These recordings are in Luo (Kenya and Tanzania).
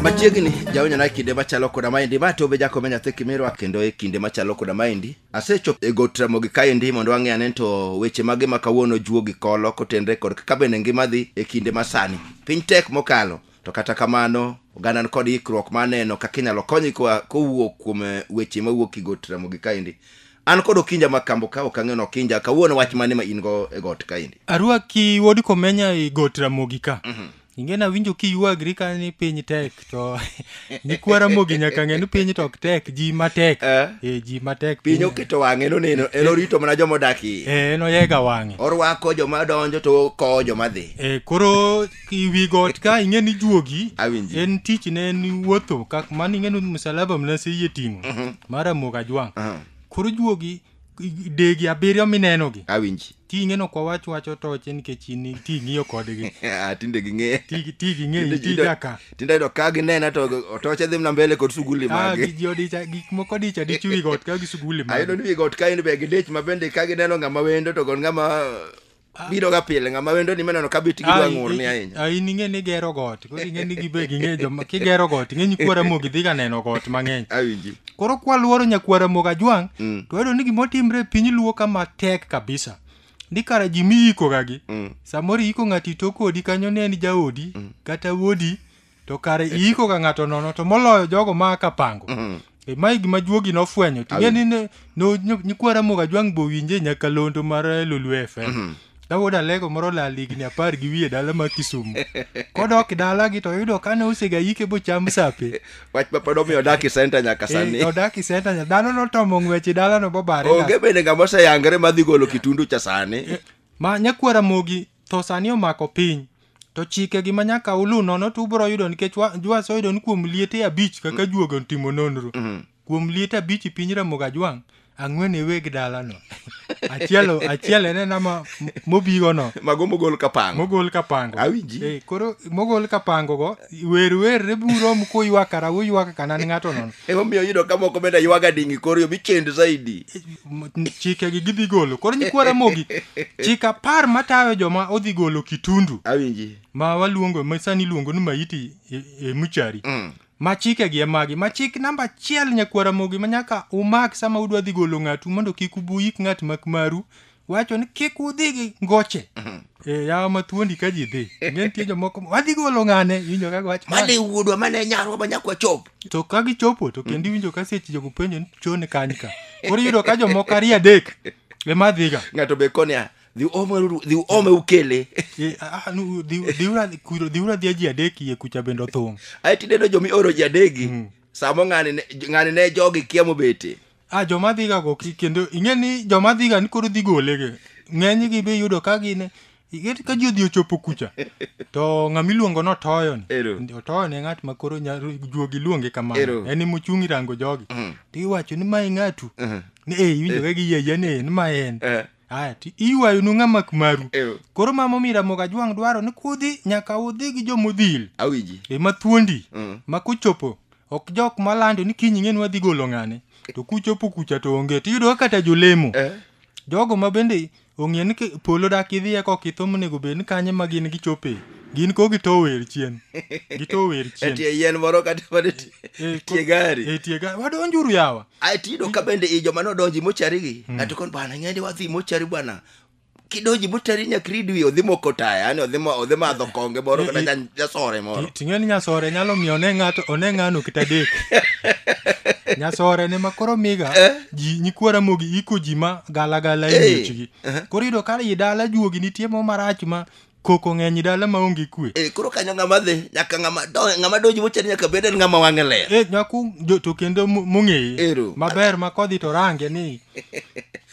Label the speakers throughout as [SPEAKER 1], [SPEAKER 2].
[SPEAKER 1] machiegni jaonyona e kinde machalo koda maendi ma tobe jakome nyathi kimirwa kendo e kinde machalo koda maendi asechopo e got ramogi kaendi mondo ang'e ane to weche mage ma kawuono juo gi kolo kotenre kod kaka bende ngima dhi e kinde masani piny tek mokalo to kata kamano oganda kod ikruok maneno kaka inyalo kony kowuok kuom eh, weche mawuok e got ramogi kaendi An kod Okinja ma kambo ka ok ang'eno Okinja kawuono wach mane ma in go e got kaendi. Arwaki wuod
[SPEAKER 2] Komenya e got Ramogi ka. Inge nawinjo kiyuagri ka ni piny tek to nyikwa Ramogi nyaka ng'e ni piny to ok tek ji matek. Eh. Eh, ji matek. Piny oketo wang'e
[SPEAKER 1] noneno en orito mana joma odak iye. Eh, en oyega wang'e.
[SPEAKER 2] Orwako joma donjo
[SPEAKER 1] to okowo joma dhi. Eh, koro
[SPEAKER 2] iwi got ka ing'e ni juogi Awinji. en tich ne en wuotho kak mano ing'e ni msalaba mna se yie ting'o mar amuok ajwang' Aha. koro juogi i- degi abiriyo minenogi awinji ting'e no
[SPEAKER 1] kwa wach
[SPEAKER 2] wacho toche nikech in ti ng'iyo kodgi Ah, tinde ging'e
[SPEAKER 1] Ti- ti ging'e Tinde-
[SPEAKER 2] ti tinde- jaka tinde ayudo ka ginena
[SPEAKER 1] to otoche dhi mna mbele kod suguli Ah, magi gi- ji odicha gik moko
[SPEAKER 2] dicha dich wi got ka gi suguli ayudo magi ni wigot ka in be
[SPEAKER 1] gidich ma bende ka gineno ng'ama wendo to kod ng'ama biro ga pile ng'ama wendo ni meneno ka bit gidwa ng'ur ni ahinya ai ning'e ni gero
[SPEAKER 2] got koro ing'e ni gibe ging'e joma kigero got ing'e nyikwara mogi dhi ga neno got mang'eny awinji koro
[SPEAKER 1] kwaluoro
[SPEAKER 2] nyakwara moga jwang' Mm. to wayudo ni gimotimre e piny luo ka matek kabisa ni kara ji miyikogagi Mm. samoro iyiko ng'ato ito kodi kanyo ne en jaodi kata wuodi to kare iiko ga ng'ato nono to moloyo jogo ma ka pango mm. e, mae gima juogi nofwenyo ting'e ni ne no, nyikwara moga jwang' bo winje nyaka londo mar eh, lulu fm mm -hmm. Dawood Alego moro lal higni apar gi wiye dala ma Kisumu. Kodok dalagi to yudo ka ne osega yike bocham sape. Wach ma pod omiyo
[SPEAKER 1] odak e senta nyaka eh, sani. Eh, odak e senta nyaka dhano
[SPEAKER 2] notomo ng'wech e dalano bobare. Onge bende ng'ama oseyangre
[SPEAKER 1] madhi golo kitundu cha sani. Eh, ma nyakwara
[SPEAKER 2] mogi Tho sani omako piny. To chike gi manyaka ulu nono to ubro yudo nikech wa- jwasi oyudo ni kuom liete abich kaka juoga otimo nonro. Kuom liete abich i piny Ramogi Ajwang' ang'wen e weg dalano. Achiel achiel en ena ma mobigo no. mago mogol kapango
[SPEAKER 1] Mogol kapango. Awinji. Eh, koro
[SPEAKER 2] mogol kapango go wer wer re buro mu kuywakara uywaka kanan ng'ato nono. emomiyo yudo ka moko
[SPEAKER 1] bende ywaga dingi koriyo michend zaidi m- chikegi
[SPEAKER 2] gidhi golo koro nyikwa ramogi chik apar matayo joma odhi golo kitundu awinji ma
[SPEAKER 1] waluongo ma
[SPEAKER 2] sani iluongo ni maiti e, e muchari mm. ma chikegi e magi ma chik namba achiel nyakwa ramogi ma nyaka umak sama udwa dhi golo ng'atu mondo kik ubuyik ng'at mak maru wacho ni kik udhi gi ngoche e yawa mathuondi ka ji dhi nge nitie jomoko wadhi golo ng'ane iwinjo kaka wacho mane wuodwa mane
[SPEAKER 1] nyarwa ma nyakwa chop to ka gichopo
[SPEAKER 2] to kendo iwinjo ka seche jogo penjo ni chon kany ka koro iyudo ka jomoko ariyo adek ema dhiga ng'ato be konia
[SPEAKER 1] dhi omeruru dhi ome ukele Eh, ah, ah, nu- dhi- dhiura-
[SPEAKER 2] kuro- dhiura dhia ji adek iye kucha bende othung' ae tineno jomi
[SPEAKER 1] oro jadegi samo ng'ani ne- ng'ani ne jogi kia mobete a joma dhiga go
[SPEAKER 2] ki- kendo ing'e ni joma dhiga ni koro dhi gole ge ng'eny gi be yudo ka gin ing'e ka ji odhi ochopo kucha to ng'ama iluongo no toyo ni Ero. Ndi- otoyo ne ng'at ma koro nya- juogi luonge Ero. kamano en ema ochung' irango jogi Mm. to iwacho ni mae ng'atu Mhm. ni e iwinjo ka giyeyie ni en ma en Eh. aya to iywayo nu ng'ama maru Ero. koro mama omiyo ramoga jwang' dwaro ni kudhi nyaka udhi gi jomodhil awinji ema
[SPEAKER 1] thuondi Mm.
[SPEAKER 2] ma kochopo ok jok malando ni kiny ing'e ni wadhi golo ng'ane to kuchopo kucha to onge to iyudo kata jolemo eh? jogo ma bende ong'e ni polo dak idhiye kok itho monego bed ni kanye ma gin gichope gin ko gito wer chien gito wer chien
[SPEAKER 1] etie yien moro kata mana eh, eh, etie gari etie gari wadonjuru yawa
[SPEAKER 2] ai tido ka bende
[SPEAKER 1] i joma nodonji mochari gi hmm. ato kon bana ng'endi wadhi mochari bwana kidonji moteri nyaka rid wiye odhi moko taya yani odhi mo- odhi madho konge moro kata nya- nyasore moro Ti- ting'eni nyasore nyalo
[SPEAKER 2] miyo one ng'ato one ng'ano kata dek nyasore ne ma koro miga ji nyikwara mogi iko ji ma galagala e Hey. miechgi koro yudo ka i dala juogi nitie mo marach ma Koko ng'eny dala maonge kwe. Eh, koro kanyo ng'ama dhi
[SPEAKER 1] nyaka ng'ama do- ng'ama donji mochani nyaka bed en ng'ama wang'e ler Eh, nyaku jo- to kendo
[SPEAKER 2] mo- mong'eye. Ero. Maber ma kodhi to range ni.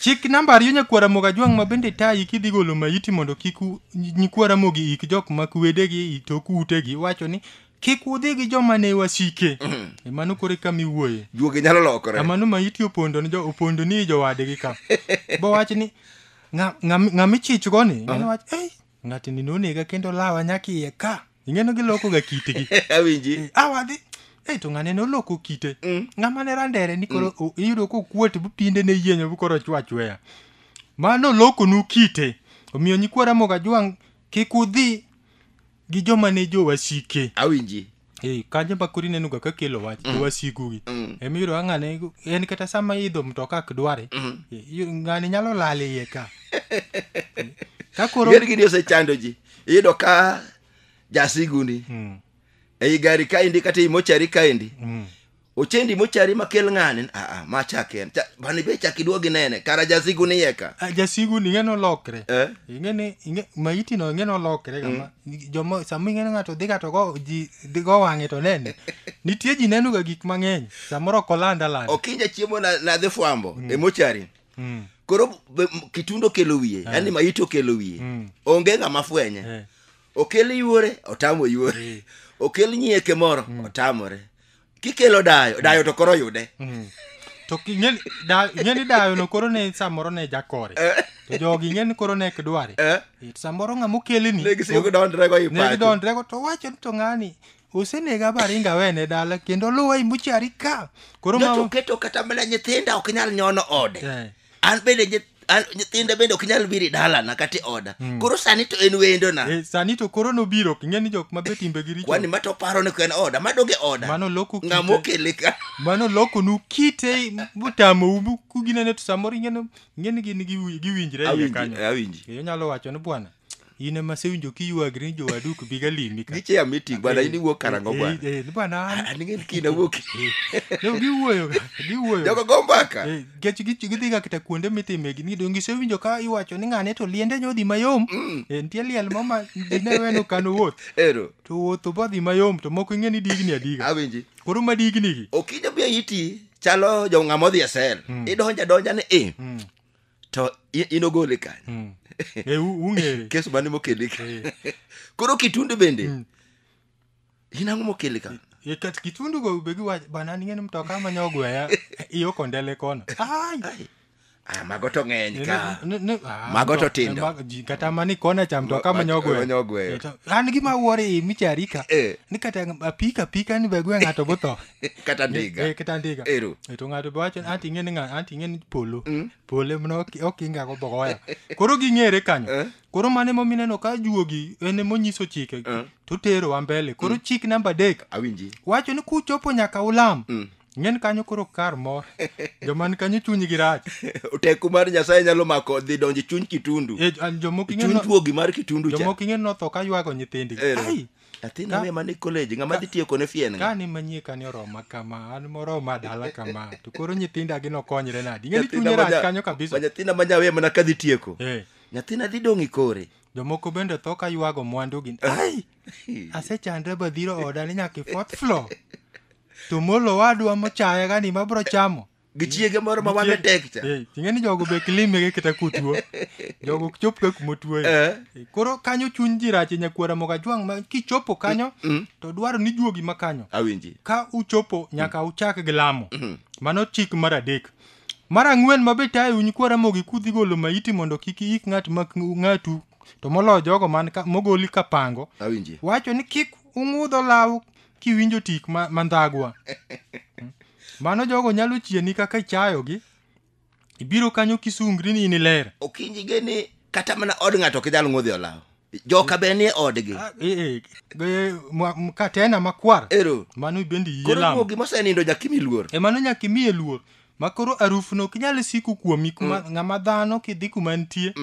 [SPEAKER 2] Chik namba ariyo nyakwara moga jwang' ma bende tayi kidhi golo maiti mondo kik u- nyi- nyikwara mogi ik jok ma kwedegi i tok utegi wacho ni kik udhi gi joma ne wasike. E mano kore ka miwuoye. juoge nyalo lokore
[SPEAKER 1] Amano maiti opondo
[SPEAKER 2] ni jo opondo ni jowadegi ka. Bo wach ni Nga- ng'am- ng'ama ichichgo ni ng'eno wach ei ng'atni nonega kendo lawa nyaka iye ka ing'eno gilokoga kitgi awinji Eh, a wadhi ei to ng'ane noloko kite ng'ama ne randere ni koro o- iyudo kokuot bu pinde ne yienyo bu koro chwa chweya ma nolokonu kite omiyo nyikwara moga jwang' kik udhi gi joma ne jowasike awinji
[SPEAKER 1] Eh, kanyo ema koro
[SPEAKER 2] ineno ga kakelo wach jowasikugi Mm. emiyudo ka ng'ane en kata sama idho mtoka ak dware Mm. eh, yu- ng'ani nyalo lal iye ka
[SPEAKER 1] Eh, ka koro gini gini osechando ji iyudo ka jasiguni Mm, ei gari kaendi kata ei mochari kaendi mm, ochendi mochari makel ng'ani aa ma chake en Cha- bani be chak iduog inene kara jasigu ni yeka Ah, jasigu ni ing'eni
[SPEAKER 2] olokre Eh? ing'eni ing'e- maiti no ing'eni olokre kama joma sama ing'eni ng'ato dhi ka to go ji dhi go wang'e to nene nitie ji neno ga gik mang'eny samoro ok oland aland okinja chiemo na-
[SPEAKER 1] nadhi fwambo e mochari Mm. koro be- m- kitundo okelo wiye yani maiti okelo wiye Mm. onge ng'ama fwenye Eh. okel yuore otamo yuore okel nyieke moro otamore kikelo dayo dayo to koro yude to ki-
[SPEAKER 2] ing'eni da- ing'eni dayono koro ne samoro ne jakore to jogi ing'eni koro ne ok dware Eh? Eh, to samoro ng'ama okeleni ne gisigo gidondrego
[SPEAKER 1] i ne pacho gidondrego to wacho
[SPEAKER 2] ni to ng'ani osenega baringa wene dala kendo luwa imuchari ka koro No, to mama keto kata mana
[SPEAKER 1] nyithinda ok nyal nyono ode Eh. an bende nyith- an- nyithinda bende ok nyal biri dalana kata e oda koro sani to en wendona Eh, sani to koro nobiro
[SPEAKER 2] ok ing'e ni jok ma be timbe gi richo kwani ma to paro ni ko en
[SPEAKER 1] oda madonge oda mano loko kite- ng'ama okele
[SPEAKER 2] ka
[SPEAKER 1] mano lokonu
[SPEAKER 2] kite motamou mu- kuginene to samoro ing'eno ing'eni gin giwi- giwinjre iye kanyo awinji Eh, onyalo wacho
[SPEAKER 1] ni bwana
[SPEAKER 2] in ema asewinjo kiywagri ni jowadu ok biga limi ka Niche ya meeting bwana in
[SPEAKER 1] iwuok karang'o bwana. Eh, eh, bwana an- An ing'e
[SPEAKER 2] ni kiny awuok.
[SPEAKER 1] no, giwuoyo
[SPEAKER 2] ga, giwuoyo Jogo go
[SPEAKER 1] mbaka. Eh, nikech gi- gidhiga
[SPEAKER 2] kata kuonde mitime gini donge isewinjo ka iwacho ni ng'ane to liende nyodhi mayom Eh, nitie liel mo ma dine weno kano wuoth Ero. to wuotho
[SPEAKER 1] bodhi
[SPEAKER 2] mayom to moko ing'e ni digni adiga Awinji. koro ma
[SPEAKER 1] dignigi
[SPEAKER 2] Okinyo bia iti
[SPEAKER 1] chalo jo ng'ama odhi e sel. Idonja donja ni i. to i- inogole kanyo Mm. Eh, u- ung'ere
[SPEAKER 2] kes mane mokele
[SPEAKER 1] ka koro kitundu bende inang'o mokele ka Eh, kat kitundu
[SPEAKER 2] go be giwacho bana ning'eni mtoka ma nyogweya iyo kondele kono ai
[SPEAKER 1] Ah, mago to ng'eny Ne- ka ne- ne- ah, Mago to mto- tindo. ma- ji- kata mani kona
[SPEAKER 2] cha mtoka Ma- ma- manyogwe manyogweyo. an gima wuore imichari ka Eh. ni kata apika apika ni begwe ng'ato gutho kata ndiga Eh,
[SPEAKER 1] kata ndiga ero
[SPEAKER 2] Eh, to ng'ato be wacho
[SPEAKER 1] ni anti
[SPEAKER 2] ing'e ni ng'a- anti ing'e ni polo polo emna ok ok inga go bogoya koro ging'ere kanyo Eh. koro mane momineno ka juogi en emonyiso chike Eh. to tero wa mbele koro chik namba adek awinji wacho ni
[SPEAKER 1] kuchopo
[SPEAKER 2] nyaka ulam Mm. ng'en kanyo koro kar mor joman kanyo chunygi rach teko mar nyasaye
[SPEAKER 1] nyalo mako dhi donjo e chuny kitundu Eh, jo- jomoko ing'e chuny no-
[SPEAKER 2] juogi mar kitundu
[SPEAKER 1] cha jomoko ing'e notho ka ywago
[SPEAKER 2] nyithindgi Ero. ai athina
[SPEAKER 1] Ka- we mane college ng'ama dhi tiyo kone fien nga kane manyie kane oroma
[SPEAKER 2] kama an moroma dala kama to koro nyithinda gi nokonyre nadi ng'eni chunye rach kanyo kabisa nyathina ma nyawe mana
[SPEAKER 1] kadhi tieko Eh, nyathina dhi dong' i kore jomoko bende tho
[SPEAKER 2] ka ywago mwandugi ai asechandre badhiro oda ni nyaka i fourth floor to molo wadwa mochayaga ni mabro chamo gi chiege moro ma
[SPEAKER 1] wang'e tek cha Eh, ting'e ni jogo be
[SPEAKER 2] kilimege kata kutuo jogo ok chop ka kuma otuoye Eh. Eh, koro kanyo chuny ji rache nyakwara moga jwang' ma kichopo kanyo to dwaro ni juogi ma kanyo awinji ka
[SPEAKER 1] uchopo
[SPEAKER 2] nyaka uchak gi lamo mano chik mar adek mar ang'wen ma be tayo nyikwara mogi kudhi golo maiti mondo kik ik ng'at ma ng'atu to moloyo jogo man ka, mogoli ka pango awinji wacho ni
[SPEAKER 1] kik
[SPEAKER 2] ung'udho law kiwinjo tik ma- mandhagwa mano jogo nyalo chieni kaka ichayogi ibiro kanyo kisungri ni in iler okinjige ni
[SPEAKER 1] kata mana od ng'ato ok idhal ng'udhi olaw joka be nie odgi Ah, eh, eh, eh, mwa- m-
[SPEAKER 2] katena makwar ero mano bende
[SPEAKER 1] yie koro lamo
[SPEAKER 2] mogi mosenindo
[SPEAKER 1] nyakimi luor e mano nyaka imiye luor
[SPEAKER 2] ma koro arufno ok nyal siko kuomi kuma ng'ama dhano kidhi kuma nitie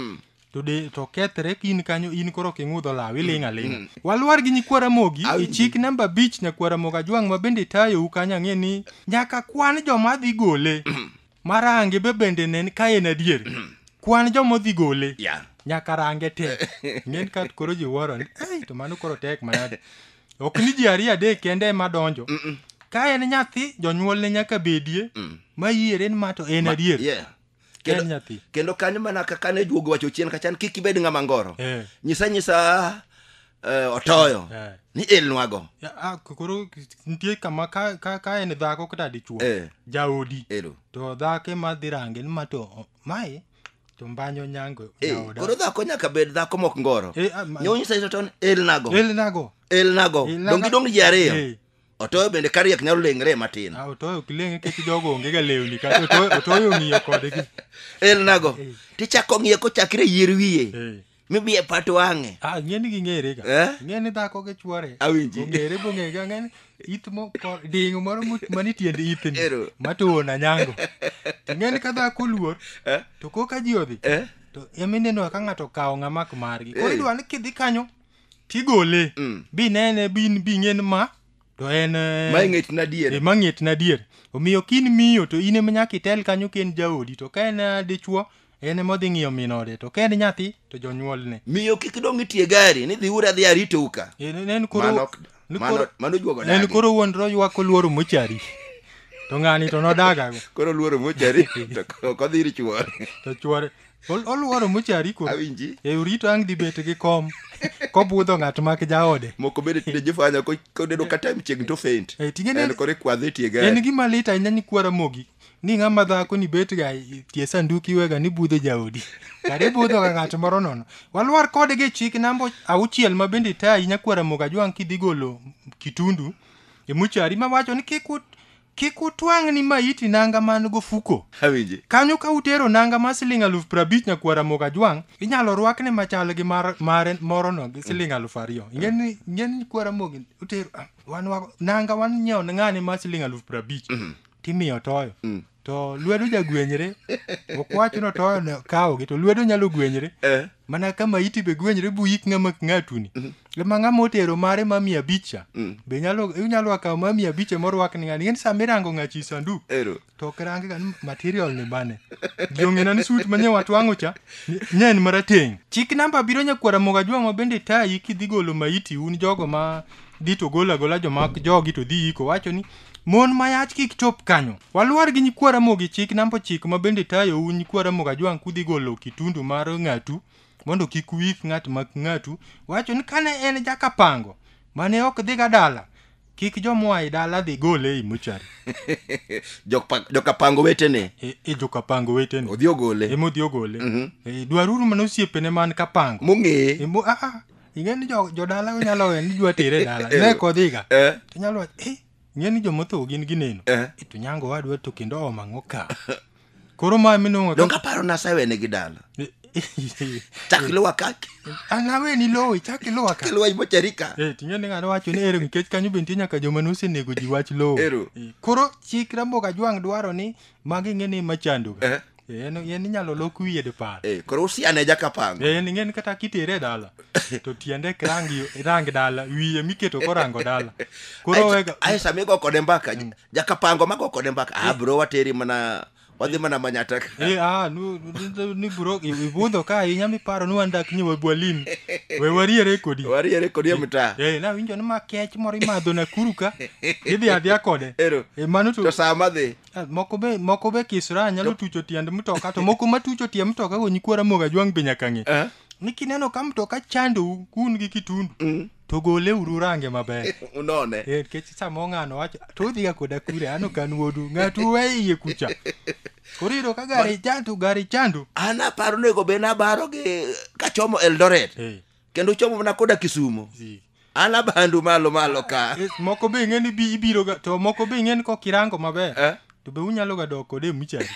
[SPEAKER 2] to de to kethre in kanyo in koro ok ing'udh olaw iling' aling'a walwar gi nyikwa ramogi Awinji. ichik namba abich nyakwa ramogi ajwang' ma bende tayou kanyo ang'e ni nyaka kwan joma dhi gole marange be bende nen ka en adier kwan joma dhi gole ya nyaka range te ng'en ka koro ji wuoro ni "Ei, to mano koro tek manade ok ni ji ariyo adek kende ema donjo ka en nyathi jonyuolne nyaka bedie ma yiere ni ma to en adier yeah Kendo- Ken nyathi.
[SPEAKER 1] kendo kanyo mana kaka ne juogo wacho chien kachan kik ibed ng'ama ngoro Eh. nyisa nyisa eh, otoyo Eh. ni ilnwago Ya, ah, k- koro
[SPEAKER 2] nitie kama ka, ka, ka en dhako kata dichuo Eh. jaodi ero to dhako ema dhi range ni ma to o- mae to mbanyo nyango Eh, jaoda. koro dhako nyaka bed
[SPEAKER 1] dhako mok ngoro Eh, ah, ma- nyo nyisa nyisa otoyo ni ilnago elnago ilnago Ilnago. dongi dong ji ariyo Eh. otoyo bende kariek nyalo lengre matin Ah, otoyo ok leng' nikech
[SPEAKER 2] jogo onge ga lewni kata otoyo- otoyo ong'iyo
[SPEAKER 1] kodgi
[SPEAKER 2] elnago
[SPEAKER 1] tichako ng'iye
[SPEAKER 2] kochakre
[SPEAKER 1] yier
[SPEAKER 2] wiye Eh.
[SPEAKER 1] mibiye pat wang'e Ah, ng'e ni ging'ere ga
[SPEAKER 2] Eh? ng'e ni dhako gi
[SPEAKER 1] chwore
[SPEAKER 2] Awinji. ong'ere bong'e
[SPEAKER 1] ga ng'e
[SPEAKER 2] ni it mo ko- ding' moro mo- mani tiend ithni Ero. matuwo na
[SPEAKER 1] nyango
[SPEAKER 2] to ng'e ni ka dhako oluor Eh? to koka ji odhi Eh? to emineno ka ng'ato okawo ng'amak margi koro Eh. idwa ni kidhi kanyo kigole Mm. binene bin bing'en ma to en eh, ma ing'et na diere
[SPEAKER 1] e mang'et na dier
[SPEAKER 2] omiyo kin miyo to in ema nyaka itel kanyo ka en jaodi to ka en eh, dichwo en ema odhi ng'iyo min ode to ka en nyathi to jonyuolne miyo kik dong itie
[SPEAKER 1] gari ni dhi ura dhi aritou ka En- en- en koro- Mano ok-
[SPEAKER 2] ni mano- koro- mano
[SPEAKER 1] juogo en dagi. koro wuondro ywak
[SPEAKER 2] oluoro mochari to ng'ani to nodagago koro luoro mochari
[SPEAKER 1] to ok odhi ir chuore to chwore
[SPEAKER 2] Ol- oluoro mochari ko awinji e orito ang'
[SPEAKER 1] dhi bet
[SPEAKER 2] gi kom kobudho ng'at mak jaode moko bende tinde jofanya
[SPEAKER 1] ko- koneno ka time chieng' to faint Eh, ting'e ni- en kore kwadhe tie en gari gima lit ahinya ni
[SPEAKER 2] kwara mogi ni ng'ama dhako ni betga i- tie sanduku iwega ni budho jaodi kare budho ga ng'at moro nono walwar kodgi e chik namba auchiel ma bende tayi nyakwara moga jwang' kidhi golo kitundu e muchari mawacho ni kik ut- Kik utwang' ni maiti nanga man gofuko. Awinje. Kanyo ka
[SPEAKER 1] utero
[SPEAKER 2] nanga mar siling aluf prabich nyakuo Ramogi Ajwang', inyalo rwakne machal gi mar mare morono gi siling aluf ariyo. Ing'e ni ing'e ni kwa Ramogi utero ah, wan wa, nanga wan nyiewo ne ng'ane mar siling aluf prabich. Timiyo toyo. To lwedo jagwenyre. Okwachuno toyo ne kawogi to lwedo nyalo gwenyre. Eh. mana ka maiti be gwenyre buyik ng'ama ng'atuni mm -hmm. ma ng'ama otero mare ma mia abicha mm. be nyalo inyalo akawo ma mia abicha morwak ni ng'ani ng'eni sama irango ng'achi sandu Ero. to ok range ga material ni bane jong'ena ni sut manye watwang'o cha nye en marateng' chik namba biro nyakwara moga jwang'o bende tayi kidhi golo maiti un jogo ma dhi to gola gola joma jogi to dhi yiko wacho ni Mon mayach kik chop kanyo. Waluar gi nyikwa Ramogi chik namba ochiko ma bende tayou nyikwa Ramogi Ajwang' kudhi golo kitundu mar ng'atu mondo kik wik ng'at mak ng'atu wacho ni kane en jakapango mane ok dhiga dala kik jomoa e dala dhi gole ei mochari Jokpa- jokapango
[SPEAKER 1] wetene e, e jokapango
[SPEAKER 2] wetene odhi ogole emodhi
[SPEAKER 1] ogole
[SPEAKER 2] e, dwaruru mana osiepene man kapango mong'eye Emo- ah,
[SPEAKER 1] ah, ing'e ni
[SPEAKER 2] jo- jodala onyalo we ni idwa tere e dala ne kodhiga Eh. to nyalo wacho eh ing'e ni jomotho gin gineno Eh. Eh, to nyango wadwa to kendo oom ang'o ka koro ma minong'o donge aparo nasawene
[SPEAKER 1] gi dala chak iluwa kaki anawe ni lowo
[SPEAKER 2] ichak iluwa ka iluwa imocharika Eh,
[SPEAKER 1] ting'e ni ng'ato wacho ni
[SPEAKER 2] ero nikech kanyo be nitie nyaka joma nosenego ji wach lowo Ero. Eh, koro chik ramboka jwang' dwaro ni magi ng'e ni machandoga Eh. Eh, en en inyalo lok wiye dipar Eh, koro usiane
[SPEAKER 1] jakapango Eh, ni ng'en kata kitere
[SPEAKER 2] e dala to tiende ok rang yo- rang dala wiye miketo korango dala koro wega ae sami go kode mbaka
[SPEAKER 1] jakapango mago kode mbaka ah bro wateri mana wadhi mana manyata ka Eh, ah, nu, nu,
[SPEAKER 2] ni buro ibudho ka ahinya miparo ni wan dak ni wabwalin we wariere kodi wariere kodi e mtaa
[SPEAKER 1] Eh, nawinjo ni ma
[SPEAKER 2] kech moro imadho nakuru ka idhi adhia kode Ero. Eh, mano to to saa madhi Ah,
[SPEAKER 1] moko be moko be
[SPEAKER 2] kisra nyalo tucho tiend mtoka to moko matucho tie mtoka go nyikwara moga jwang be nyaka ng'e Eh? ni kineno ka mtoka chandou kun gi kitundu Mm. to gole uru range maber unone Eh, nikech
[SPEAKER 1] samo ng'ano
[SPEAKER 2] wacho to udhiga koda kure ano kan wuodu ng'atu we iye kucha koro iyudo ka gari chandu gari chandu an aparo nego be
[SPEAKER 1] nabaro gi kachomo eldoret Eh, kendo uchomo mana koda kisumo Zi. an abandu malo malo ka Eh, moko be ing'e ni bi-
[SPEAKER 2] ibiro ga to moko be ing'e ni kok irango maber Eh? to be unyalo ga dok kode e muchari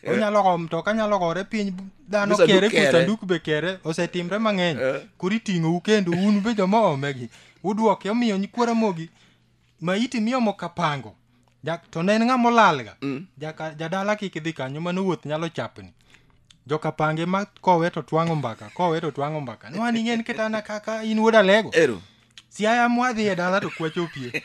[SPEAKER 2] onyalo go mtoka nyalo gore piny bu- dhano Musa kere duk kere. kusanduku be kere osetimre mang'eny Eh. koro iting'ou kendo un be joma omegi uduoke omiyo nyikwara mogi maiti miomo kapango ja, to ne en ng'ama olalga mm. Jaka, jadala kik idhi kanyo mano wuoth nyalo chapni jokapange ma kowe to twang'o mbaka kowe to twang'o mbaka nwani ng'en ketana kaka in wuod alego ero siaya mwadhi e dala to kwacho pie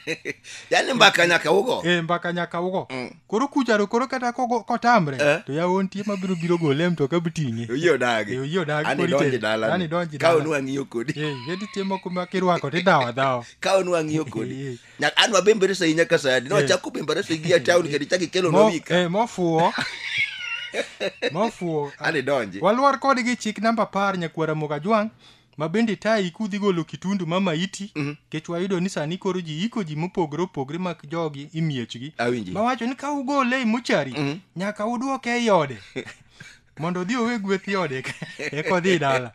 [SPEAKER 2] yani mbaka
[SPEAKER 1] nyaka ugo e mbaka nyaka ugo mm.
[SPEAKER 2] koro kucharo koro kata kogo- kotamre Eh. to yawo nitie mabiro biro gole e mtoka biting'e oyie odagi Eh, oyie
[SPEAKER 1] odagi, Ani korite. donji dala Ani donji ka dala. onu ang'iyo kodi Eh, ye nitie moko ma
[SPEAKER 2] kirwako tidhawo adhawa ka onu ang'iyo
[SPEAKER 1] kodi Eh. Nya- an wabembere sahi nyaka sani ne Eh. wachako bembere sahi gi town kendo ichako ikelo Mo- nowika eh, mofuwo
[SPEAKER 2] mofuwo
[SPEAKER 1] ani donji walwar kodgi chik
[SPEAKER 2] namba par nyakwara mokajwang' ma bende tayi kudhi golo kitundu ma maiti Mhm. kech wayudo ni sani koro ji iko ji mopogore opogore mak jogi imiechgi Awinji. ma wacho ni ka ugole e mochari Mhm. nyaka udwoke ei ode mondo odhi owe gweth i ode eka- eka odhi dala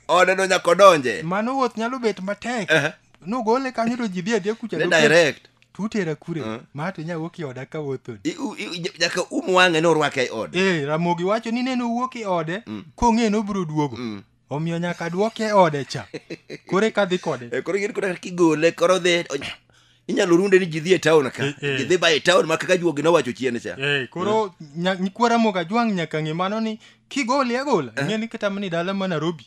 [SPEAKER 2] ode no
[SPEAKER 1] nyaka odonje mano wuoth nyalo bet
[SPEAKER 2] matek Ehe. nugole kanyo to ji dhi adhiya kucha ne doket- direct tutera
[SPEAKER 1] kure Eh.
[SPEAKER 2] ma to inya wuok i oda ka wuothoni I- u- i- i- nyaka um
[SPEAKER 1] wang'e
[SPEAKER 2] ni orwake e ode
[SPEAKER 1] ee
[SPEAKER 2] ramogi wacho
[SPEAKER 1] ni
[SPEAKER 2] nene owuok
[SPEAKER 1] i
[SPEAKER 2] ode Mm.
[SPEAKER 1] kong'e
[SPEAKER 2] ni obiro duogo
[SPEAKER 1] Mm.
[SPEAKER 2] omiyo nyaka dwoke e ode cha koro eka dhi kode Eh, koro ing'eni koro kigole
[SPEAKER 1] koro dhi onya- inyalo runde ni ji dhi e taon ka Eh, eh. ji dhi ba e taon ma kaka juogi nowacho chien cha Eh, koro nya-
[SPEAKER 2] nyikwara moga jwang' nyaka ng'e mano ni kigole agola ing'e ni kata mana e dala ma narobi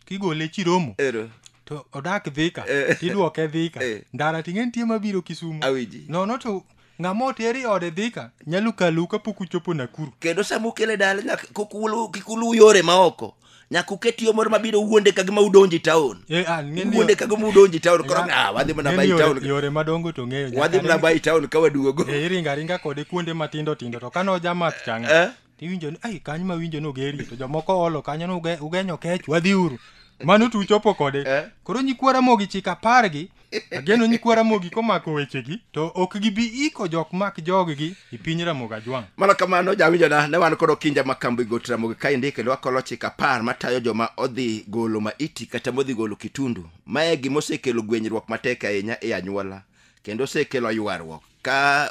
[SPEAKER 2] kigole chiromo ero to odak dhika Eh. tidwoke dhika Eh. ndara ting'e nitie mabiro kisumu awinji nono to ng'ama oteri ode dhika nyalo kalu kapok uchopo nakuru kendo sama ukele dala
[SPEAKER 1] nyaka kik ulu- kik uluw yore maoko nyaka uket yo moro mabiro wuonde ka gima udonji taon Eh, ah, ng'e ni- wuonde ka gima udonji taon koro Ng'a- ah, wadhi mana ng'e ni bai yore- taon yore madongo to ng'eyo
[SPEAKER 2] wadhi mana bai taon ka
[SPEAKER 1] waduogo Eh, iringa ringa kode
[SPEAKER 2] kuonde matindo tindo to kano jamath changa Eh? tiwinjo ni ai kanyo ma winjo nogeri to jomoko olo kanyo ni uge- ugenyo kech wadhiuru mano to uchopo kode Eh. koro nyikwa ramogi chik apar gi ageno nyikwa ramogi komako wechegi to ok gibi iko jok mak joggi e piny ramogi ajwang' mana kamano jawinjona
[SPEAKER 1] ne wan kod okinja ma kambi got ramogi ka indike kendo wakolo chik apar matayo joma odhi golo maiti kata modhi golo kitundu mae gima osekelo gwenyruok matek ahinya e anyuola kendo osekelo ywaruok ka